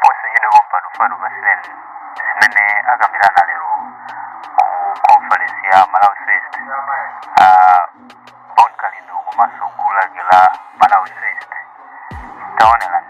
posachedwa pompano pano fatsirani zimene akambirana lero ku conference ya malawi first uh, bon kalindo komanso gulu lake la malawi first taonelani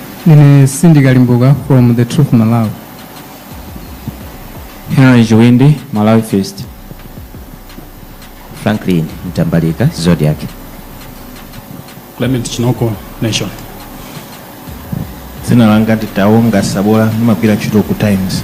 Ine Cindy Kalimbuka from The Truth Malawi. Henry Chiwindi, Malawi First. Franklin Mtambalika, Zodiac. Clement Chinoko, Nation. Dzina langa ndi Taonga Sabola, ndimagwira ntchito ku Times.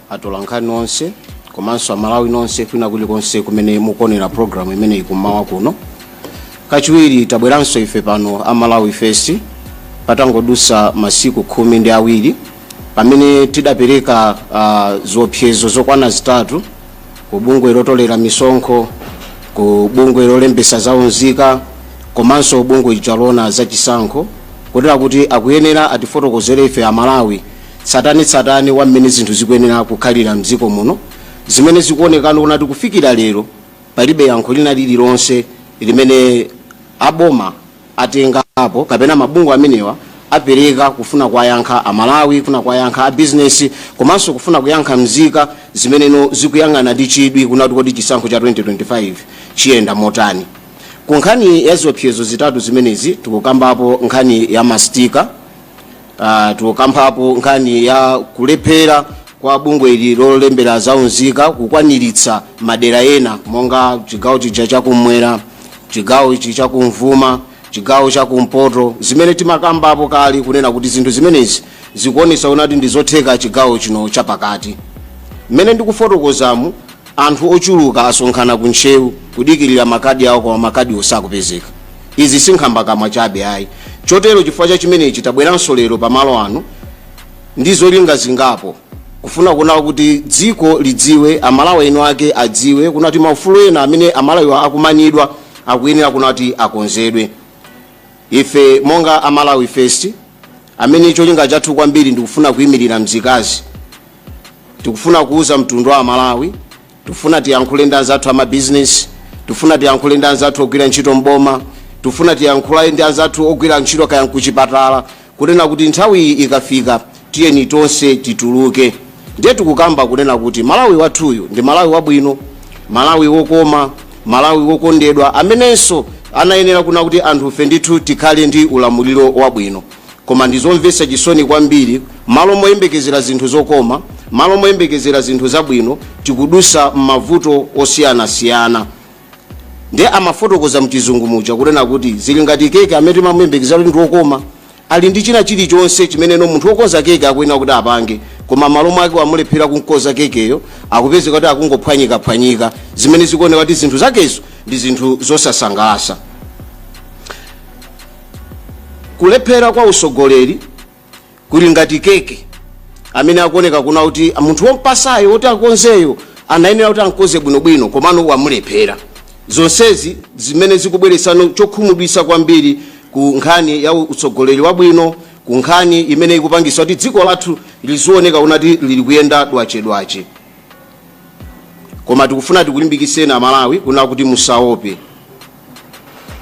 atolankhani onse komanso amalawi nonse kwina kulikonse kumene mukuonera programu imeneyi kummawa kuno kachiwiri tabweranso ife pano a malawi first patangodusa masiku khumi ndi awiri pamene tidapereka uh, ziopsezo zokwana zitatu ku bungwe lotolera misonkho ku bungwe lolembesa za unzika komanso bungwe lija loona za chisankho kotera kuti akuyenera atifotokozere ife amalawi tsatanetsatane wa mmene zinthu zikuyenera kukhalira mdziko muno zimene zikuoneka kunati kufikira lero palibe yankho lina lililonse limene aboma atengapo kapena mabungwe amenewa apereka kufuna kuwayankha amalawi kufuna kuwayankha abizinesi komanso kufuna kuyankha mzika zimene zikuyang'ana ndi chidwi kunati kodi chisankho cha 2025 chiyenda motani ku nkhani ya ziopsezo zitatu zimenezi tikukambapo nkhani ya mastika Uh, tikukambapo nkhani ya kulephera kwa bungwe ili lolembera za unzika kukwaniritsa madera ena monga chigawo chija chakumwera chigawo ichi chakumvuma chigawo chakumpoto zimene timakambapo kale kunena kuti zinthu zimenezi zikuonesa unati ndi zotheka chigawo chino chapakati mmene ndikufotokozamu Anthu ochuluka asonkhana ku Ntcheu kudikirira makadi awo koma makadiwo sakupezeka. Izi si nkhambakamwa chabe ayi. Chotero chifukwa cha chimenechi tabweranso lero pa malo ano ndi zolinga zingapo. Kufuna kuona kuti dziko lidziwe, aMalawi eni ake adziwe kunati maufulu ena amene aMalawiwa akumanidwa akuyenera kunati akonzedwe. Ife monga a Malawi First, amene cholinga chathu kwambiri ndikufuna kuimirira mzikazi, tikufuna kuuza mtundu wa amalawi tikufuna tiyankhule ndi anzathu amabizinesi tikufuna tiyankhule ndi anzathu ogwira ntchito mboma tikufuna tiyankhule ndi anzathu ogwira ntchito kaya nkuchipatala kunena kuti nthawi iyi ikafika tiyeni tonse tituluke Ndiye tikukamba kunena kuti Malawi wathuyu ndi Malawi wabwino, Malawi wokoma, Malawi wokondedwa amenenso anayenera kuna kuti anthufe ndithu tikhale ndi ulamuliro wabwino. Koma ndi zomvetsa chisoni kwambiri, malo moyembekezera zinthu zokoma, malo moyembekezera zinthu zabwino, tikudusa m'mavuto osiyanasiyana. Ndiye amafotokoza mchizungu muja kunena kuti zili ngati keke amene timamuyembekezera kuti ndi wokoma, Ali ndi china chilichonse chimeneno munthu wokonza keke akuyenera kuti apange, koma m'malo mwake wamulephera kumkonza kekeyo, akupezeka kuti akungophwanyikaphwanyika, zimene zikuoneka kuti zinthu zakezo ndi zinthu zosasangalatsa. Kulephera kwa utsogoleri kuli ngati keke amene akuoneka kuna kuti munthu wompasayo woti akonzeyo anayenera kuti amkonze bwinobwino komano wamulephera. Zonsezi zimene zikubweretsano chokhumudwitsa kwambiri ku nkhani ya utsogoleri wabwino, ku nkhani imene ikupangitsa kuti dziko lathu lizioneka kunati lili kuyenda dwache dwache. Koma tikufuna tikulimbikitseni Amalawi kuna kuti musaope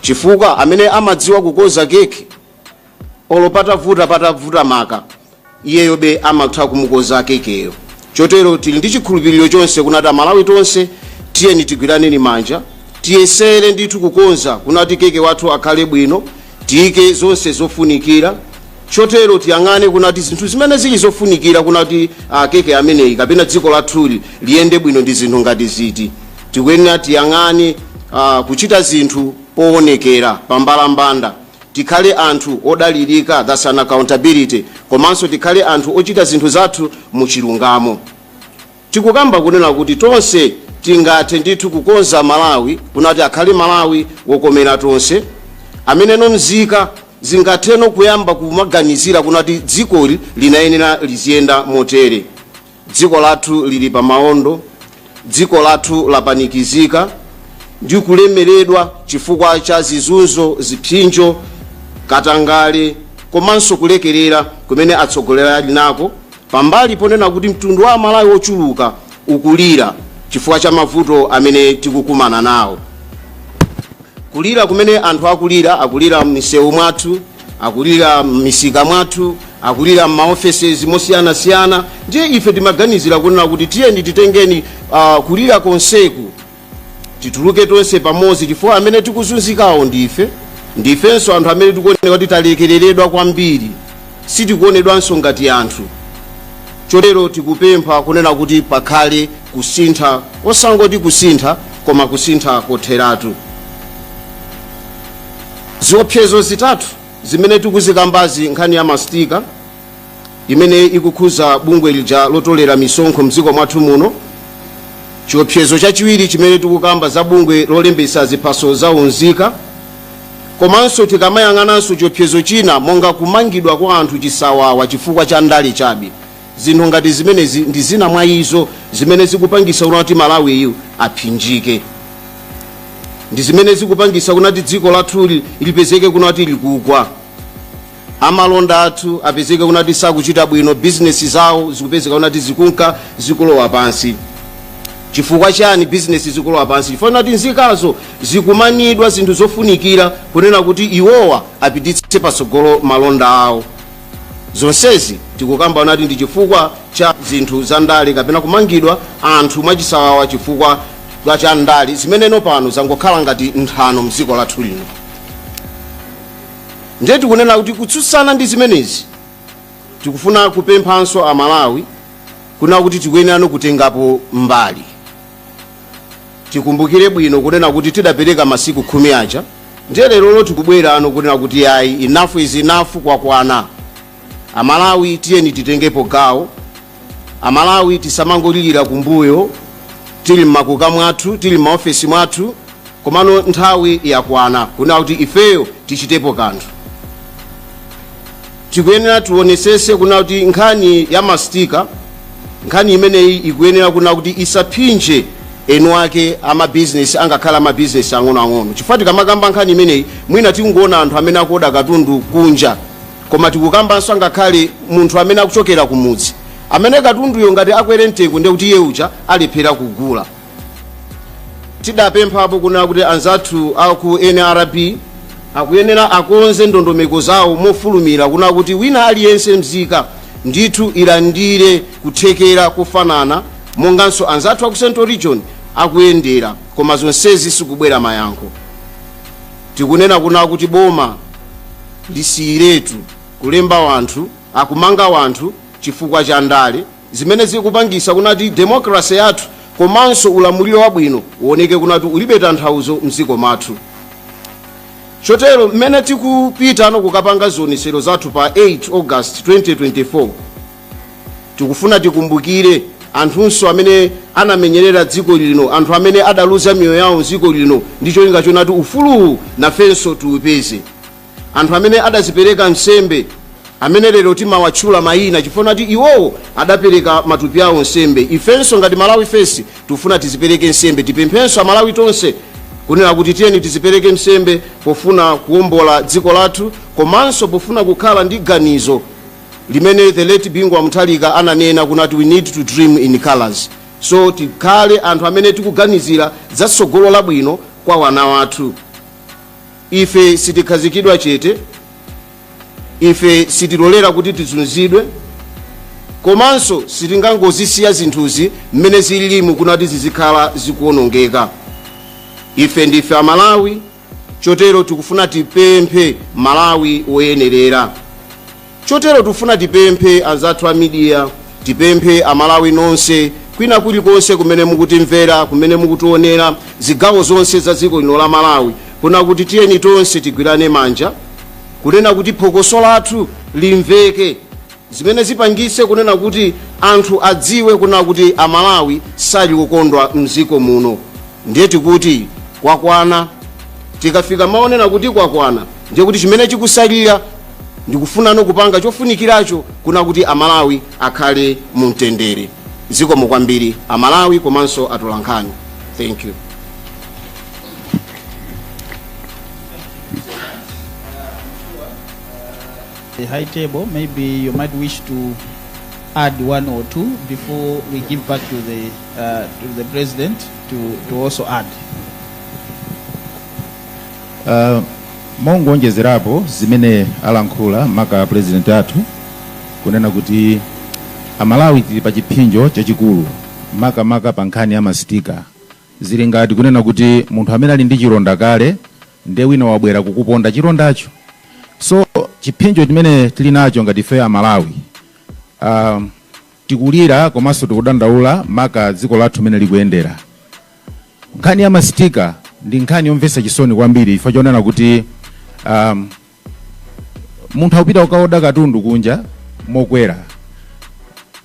chifukwa amene amadziwa kukonza keke, olo patavuta patavuta maka iyeyobe amatha kumukonza kekeyo chotero tili ndi chikhulupiriro chonse kunati amalawi tonse tiyeni tigwiraneni manja tiyesere ndithu kukonza kunati keke wathu akhale bwino tiyike zonse zofunikira chotero tiyang'ane kunati zinthu zimene zili zofunikira kunati ah, keke ameneyi kapena dziko lathuli liyende bwino ndi zinthu ngati ziti tikuyenera tiyang'ane ah, kuchita zinthu poonekera pambalambanda tikhale anthu odalirika, that's an accountability, komanso tikhale anthu ochita zinthu zathu mu chilungamo. Tikukamba kunena kuti tonse tingathe ndithu kukonza Malawi kunati akhale Malawi wokomera tonse, amene nzika zingatheno kuyamba kumaganizira kunati dzikoli linayenera liziyenda motere. Dziko lathu lili pa maondo, dziko lathu lapanikizika ndi kulemeredwa chifukwa cha zizunzo, zipsinjo, katangale komanso kulekerera kumene atsogoleri ali nako, pambali ponena kuti mtundu wa amalawi wochuluka ukulira chifukwa cha mavuto amene tikukumana nawo. Kulira kumene anthu akulira, akulira m'misewu mwathu. akulira m'misika mwathu akulira m'maofesesi mosiyanasiyana ndiye ife timaganizira kunena kuti tiyeni titengeni uh, kulira konseku tituluke tonse pamodzi chifukwa amene tikuzunzikawo ndife ndifenso anthu amene tikuoneka kuti talekereredwa kwambiri sitikuonedwanso ngati anthu chotero tikupempha kunena kuti pakhale kusintha osangoti kusintha koma kusintha kotheratu Ziopsezo zitatu zimene tikuzikambazi, nkhani ya mastika imene ikukhudza bungwe lija lotolera misonkho mdziko mwathu muno, chiopsezo chachiwiri chimene tikukamba za bungwe lolembetsa ziphaso za unzika, komanso tikamayang'ananso chiopsezo china monga kumangidwa kwa anthu chisawawa chifukwa cha ndale chabe. Zinthu ngati zimenezi ndi zina mwa izo zimene zikupangisa kunati Malawiyu aphinjike. Ndi zimene zikupangisa kunati dziko lathuli lipezeke kunati likugwa. Amalonda athu apezeke kunati sakuchita bwino, bizinesi zawo zikupezeka kunati zikunka zikulowa pansi. Chifukwa chani bizinesi zikulowa pansi? Chifukwa chonati nzikazo zikumanidwa zinthu zofunikira kunena kuti iwowa apititse patsogolo malonda awo. Zonsezi tikukamba kunati ndi chifukwa cha zinthu za ndale kapena kumangidwa anthu mwachisawawa chifukwa cha cha ndale zimeneno pano zangokhala ngati nthano mdziko lathu lino. Ndiye tikunena kuti kutsutsana ndi zimenezi tikufuna kupemphanso Amalawi kuna kuti tikuyenerano kutengapo mbali. tikumbukire bwino kunena kuti tidapereka masiku khumi aja ndiye lerolo tikubwerano kunena kuti yayi enough is enough kwakwana amalawi tiyeni titengepo gawo amalawi tisamangolilira kumbuyo tili mmakuka mwathu tili mmaofesi mwathu komano nthawi yakwana kunena kuti ifeyo tichitepo kanthu tikuyenera tionesese kuna kuti nkhani ya mastika nkhani imeneyi ikuyenera kuna kuti isaphinje eni ake amabizinesi angakhale amabizinesi ang'onoang'ono chifukwa tikamakamba nkhani imeneyi mwina tikungoona anthu amene akuoda katundu kunja koma tikukambanso angakhale munthu amene akuchokera kumudzi amene katunduyo ngati akwere mtengo ndekuti iye uja alephera kugula tidapemphapo kuna kuti anzathu aku nrb akuyenera akonze ndondomeko zawo mofulumira kuna kuti wina aliyense mzika ndithu ilandire kuthekera kofanana monganso anzathu aku central region akuyendera koma zonsezi sikubwera mayankho tikunena kuna kuti boma lisiyiretu kulemba wanthu akumanga wanthu chifukwa cha ndale zimene zikupangisa kunati democracy yathu komanso ulamuliro wabwino uwoneke kunati ulibe tanthauzo mdziko mwathu chotero mmene tikupitano kukapanga zionesero zathu pa 8 august 2024 tikufuna tikumbukire anthunso amene anamenyerera dziko lino anthu amene adaluza miyoyo yawo mdziko lino ndi cholinga chonati ufuluwu nafenso tiupeze anthu amene adazipereka nsembe amene lero timawatchula mayina chifukwa kuti iwowo adapereka matupi awo nsembe ifenso ngati malawi first tikufuna tizipereke nsembe tipemphenso amalawi tonse kunena kuti tiyeni tizipereke nsembe pofuna kuwombola dziko lathu komanso pofuna kukhala ndi ganizo limene the late bingu wa mutharika ananena kunati we need to dream in colors so tikhale anthu amene tikuganizira za tsogolo labwino kwa wana wathu ife sitikhazikidwa chete ife sitilolera kuti tizunzidwe komanso sitingangozisiya zinthuzi mmene zililimu kuna kuti zizikhala zikuonongeka ife ndife amalawi chotero tikufuna tipemphe malawi woyenerera Chotero tufuna tipemphe anzathu a media, tipemphe a Malawi nonse, kwina kulikonse kumene mukutimvera, kumene mukutionera, zigawo zonse za dziko lino la Malawi, kuna kuti tiyeni tonse tigwirane manja, kunena kuti phokoso lathu limveke, zimene zipangitse kunena kuti anthu adziwe kunena kuti a Malawi sali kukondwa m'dziko muno. Ndiye tikuti kwakwana. Tikafika mawu onena kuti kwakwana, ndiye kuti chimene chikutsalira ndi kufuna no kupanga chofunikiracho kuna kuti amalawi akhale mu mtendere zikomo kwambiri amalawi komanso atolankhani thank you the high table, maybe you might wish to add one or two before we give back to the uh, to the president to, to also add. Uh, mongonjezerapo zimene alankhula maka president athu kunena kuti amalawi tili pa chipsinjo chachikulu makamaka pa nkhani ya masitika zili ngati kunena kuti munthu amene ali ndi chilonda kale nde wina wabwera kukuponda chilondacho so chipsinjo chimene tili nacho ngati ife amalawi um, tikulira komanso tikudandaula maka dziko lathu mene likuyendera Nkhani ya ma sticker ndi nkhani yomvetsa chisoni kwambiri chifukwa chonena kuti um, munthu akupita kukaoda katundu kunja mokwera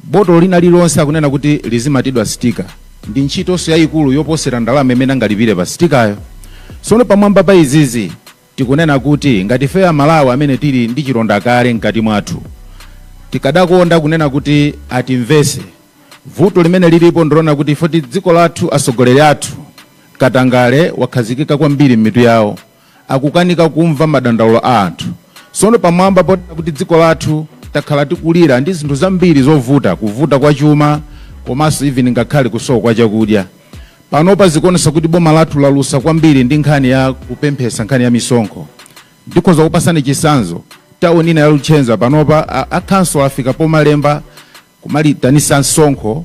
botolo lina lililonse akunena kuti lizimatidwa sticker ndi ntchitonso yayikulu yoposera ndalama imene angalipire pa sitikayo sono pamwamba pa izizi Tikunena kuti ngati ife aMalawi amene tili ndi chilonda kale mkati mwathu tikadakonda kunena kuti atimvetse. Vuto limene lilipo ndilonena kuti ifoti dziko lathu atsogoleri athu katangale wakhazikika kwambiri m'mitu yawo akukanika kumva madandaulo a anthu. Tsono pamwamba ponena kuti dziko lathu takhala tikulira ndi zinthu zambiri zovuta kuvuta kwa chuma komanso even ngakhale kusowa kwa chakudya. Panopa zikuonesa kuti boma lathu lalusa kwambiri ndi nkhani ya kupemphesa nkhani ya misonkho. Ndikhoza kupatsani chitsanzo, town ina ya Luchenza panopa a, a council afika pomalemba kumaitanitsa msonkho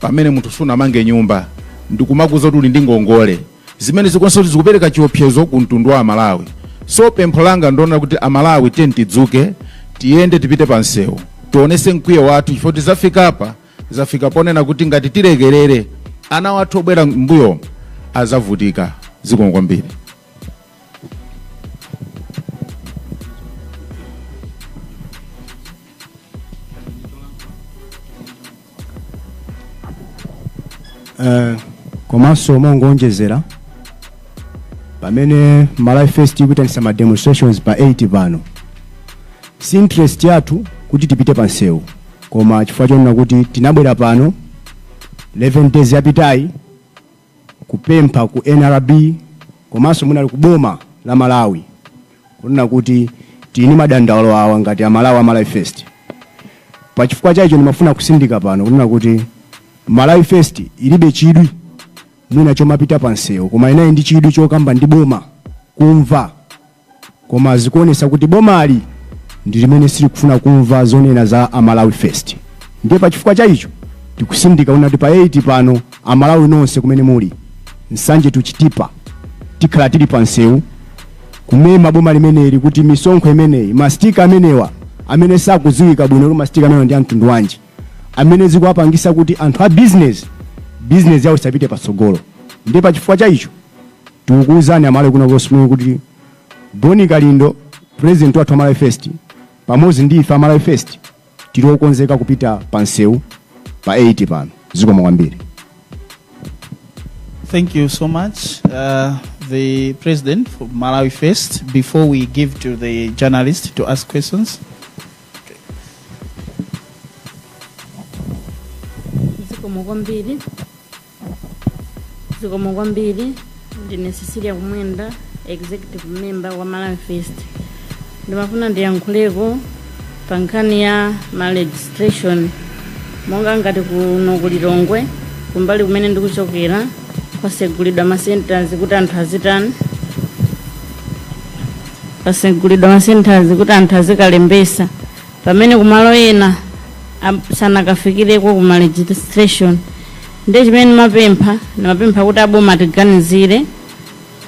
pamene munthu sunamange nyumba ndikumakuuza kuti uli ndi ngongole zimene zikuonesa kuti zikupereka chiopsezo ku mtundu wa amalawi so pempho langa ndi lonena kuti amalawi tiyeni tidzuke tiyende tipite pa msewu tionese mkwiyo wathu chifukwa tizafikapa zafika ponena kuti ngati tilekerere ana wathu obwera mbuyomu azavutika zikomo kwambiri Eh, komanso mongoonjezera pamene malawi first ikuitanisa ma demonstrations pa 8 pano si interest yathu kuti tipite pa nsewu koma chifukwa chonena kuti tinabwera pano 11 days yapitayi kupempha ku nrb komanso mwina ku boma la malawi kunena kuti tili ndi madandaulo awa ngati amalawi amalawi first pa chifukwa chaicho ndimafuna kusindika pano kunena kuti malawi first ilibe chidwi mwina chomapita pansewu koma ili ndi chidwi chokamba ndi boma kumva koma zikuonesa kuti bomali ndi limene silikufuna kumva zonena za a Malawi first ndiye pa chifukwa cha icho tikutsindika kunena kuti pa 8 pano a Malawi nonse kumene muli Nsanje to Chitipa tikhala tili pa msewu kumema boma limeneli kuti misonkho imeneyi mastika amenewa amene sakudziwika bwino kuti mastika amenewa ndi amtundu wanji amene akuwapangisa kuti anthu a business business yawo isapite patsogolo ndiye pa chifukwa cha icho tikukuuzani amalawi kwina konseko kuti bon kalindo president wathu wa malawi first pamodzi ndi ife amalawi first tili okonzeka kupita pa msewu pa 8 pano zikomo kwambiri Thank you so much, uh, the president for Malawi First. Before we give to the journalist to ask questions, zikomo kwambiri zikomo kwambiri ndine cecilia kumwenda executive member wa malawi first ndimafuna ndiyankhuleko pa nkhani ya ma registration monga ngati kuno ku lilongwe kumbali kumene ndikuchokera kwasegulidwa ma centers kuti anthu azitani kwasegulidwa ma centers kuti anthu azikalembesa pamene kumalo ena am- sanakafikireko ku ma registration ndi chimene ndimapempha ndimapempha kuti aboma atiganizire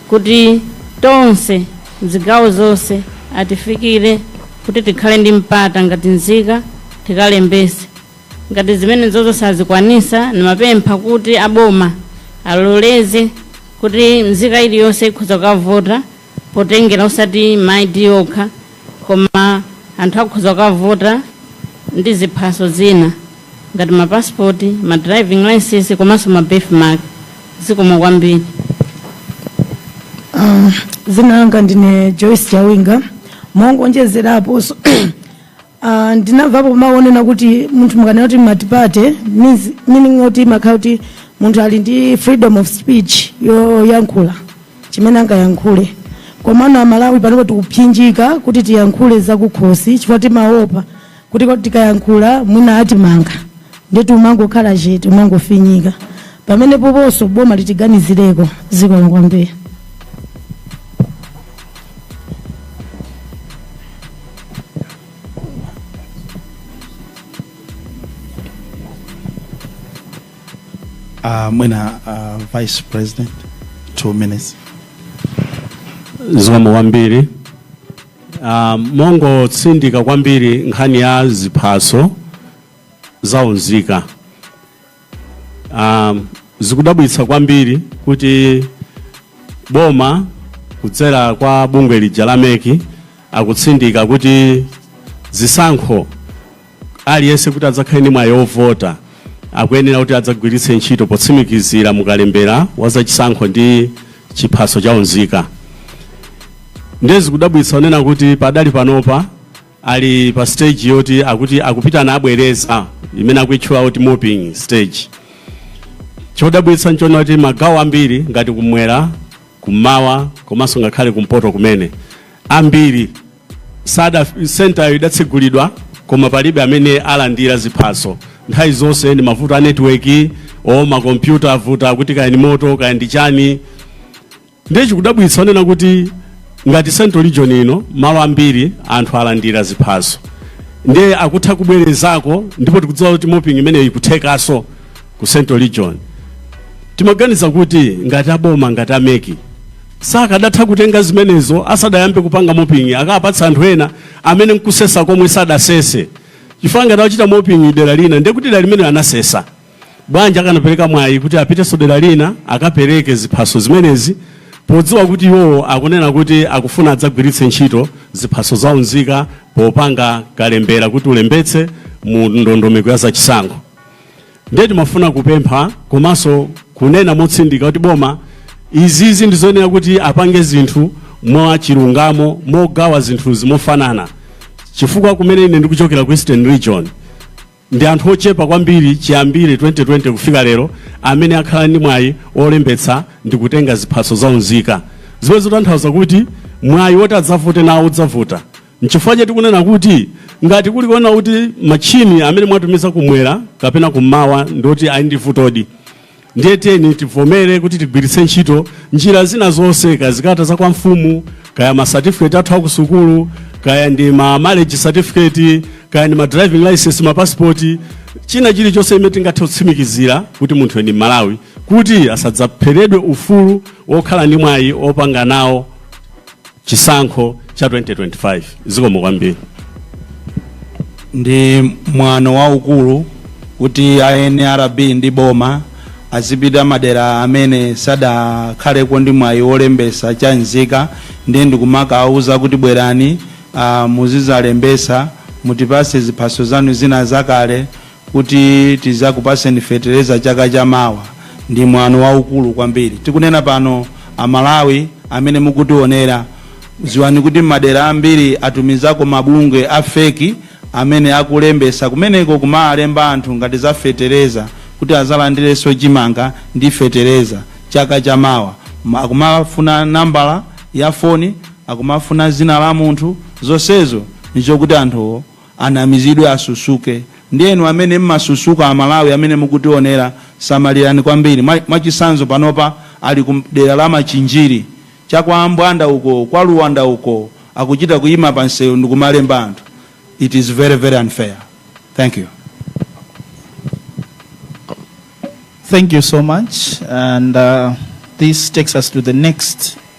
kuti tonse mzigawo zonse atifikire kuti tikhale ndi mpata ngati nzika tikalembese ngati zimene zozo sazikwanisa ndimapempha kuti aboma aloleze kuti nzika iliyonse ikhoza kukavota potengera osati ma ID okha koma anthu akhoza kukavota ndi ziphaso zina ngati ma passport, ma driving license komanso ma birth mark. Zikomo kwambiri. Dzina langa ndine Joyce Chawinga mongonjezerapo so- Ah, ndinamvapo mawu onena kuti munthu mukanena kuti multiparty meaning oti kumakhala kuti munthu ali ndi freedom of speech yoyankhula chimene angayankhule komano amalawi panopo tikupsinjika kuti tiyankhule zakukhosi chifukwa timaopa kuti tikayankhula mwina atimanga nde timangokhala chete umangofinyika pamene poponso boma litiganizireko zikomo kwambiri Uh, mwina uh, vice president two minutes zikomo kwambiri Ah, mongotsindika kwambiri nkhani ya ziphaso zaunzika Um, zikudabwitsa kwambiri kuti boma kudzera kwa bungwe lija la MEC akutsindika kuti zisankho aliyense kuti adzakhale ndi mwayi wovota akuyenera kuti adzagwiritse ntchito potsimikizira mukalembera wa zachisankho ndi chiphaso cha unzika ndiye zikudabwitsa kuona kuti padali panopa ali pa stage yoti akuti akupitanso abwereza imene akuitchula kuti mopping stage chodabwitsa nchonena kuti magawo ambiri ngati kumwera kummawa komanso ngakhale kumpoto kumene ambiri sentayo idatsegulidwa koma palibe amene alandira ziphaso nthawi zonse ndi mavuto a netiweki o makompyuta avuta akuti kaya ndi moto kaya ndi chani ndiye chikudabwitsa kuona kuti ngati central region ino malo ambiri anthu alandira ziphaso ndiye akutha kubwerezako ndipo tikudziwa kuti mopping imeneyo ikuthekanso ku central region timaganiza kuti ngati aboma ngati a MEC sakadatha kutenga zimenezo asadayambe kupanga mopping akapatsa anthu ena amene nkusesa komwe sadasese chifukwa ngati achita mopping dera lina ndiye kuti dera limene anasesa Bwanji akanapereka mwayi kuti apitenso dera lina akapereke ziphaso zimenezi podziwa kuti iwowo akunena kuti akufuna adzagwiritse ntchito ziphaso za unzika popanga kalembera kuti ulembetse mu ndondomeko ya zachisankho. Ndiye timafuna kupempha komanso kunena motsindika kuti boma izizi ndi zoyenera kuti apange zinthu mwa chilungamo mogawa zinthu mofanana chifukwa kumene ine ndikuchokera ku Eastern Region Ndi anthu ochepa kwambiri chiyambire 2020 kufika lero amene akhala ndi mwayi wolembetsa ndi kutenga ziphaso za unzika, zimene zikutanthauza kuti mwayi woti adzavote nawo udzavuta. N'chifukwa chake tikunena kuti ngati kuli kuona kuti matchini amene mwatumiza kumwera kapena kummawa ndi oti ali ndi vutodi, ndiye tiyeni tivomere kuti tigwiritse ntchito njira zina zonse kaya zikalata za kwa mfumu kaya ma certificate athu akusukulu kaya ndi ma marriage certificate kaya ndi ma driving license ma passport china chilichonse chimene tingathe kutsimikizira kuti munthu ndi Mmalawi kuti asadzapheredwe ufulu wokhala ndi mwayi opanga nawo chisankho cha 2025 zikomo kwambiri ndi mwano waukulu kuti a nrb ndi boma azipita madera amene sadakhaleko ndi mwayi wolembesa cha nzika ndiye ndikumakawawuza kuti bwerani ah, muzizalembesa mutipase ziphaso zanu zina zakale kuti tizakupatseni fetereza chaka cha mawa ndi mwano waukulu kwambiri tikunena pano amalawi amene mukutionera ziwani kuti m'madera ambiri atumizako mabungwe a feki amene akulembesa kumeneko kumawalemba anthu ngati za fetereza kuti azalandireso chimanga ndi fetereza chaka cha mawa akumafuna nambala ya foni akumafuna zina la munthu zonsezo n'chokuti anthuwo anamizidwe asusuke ndiye inu amene mmasusuka amalawi amene mukutionera samalirani kwambiri mwa chisanzo panopa ali ku dera la machinjiri cha kwa ambwanda uko kwa luwanda uko akuchita kuyima pa nsewu ndikumalemba anthu it is very very unfair thank you Thank you so much. And uh, this takes us to the next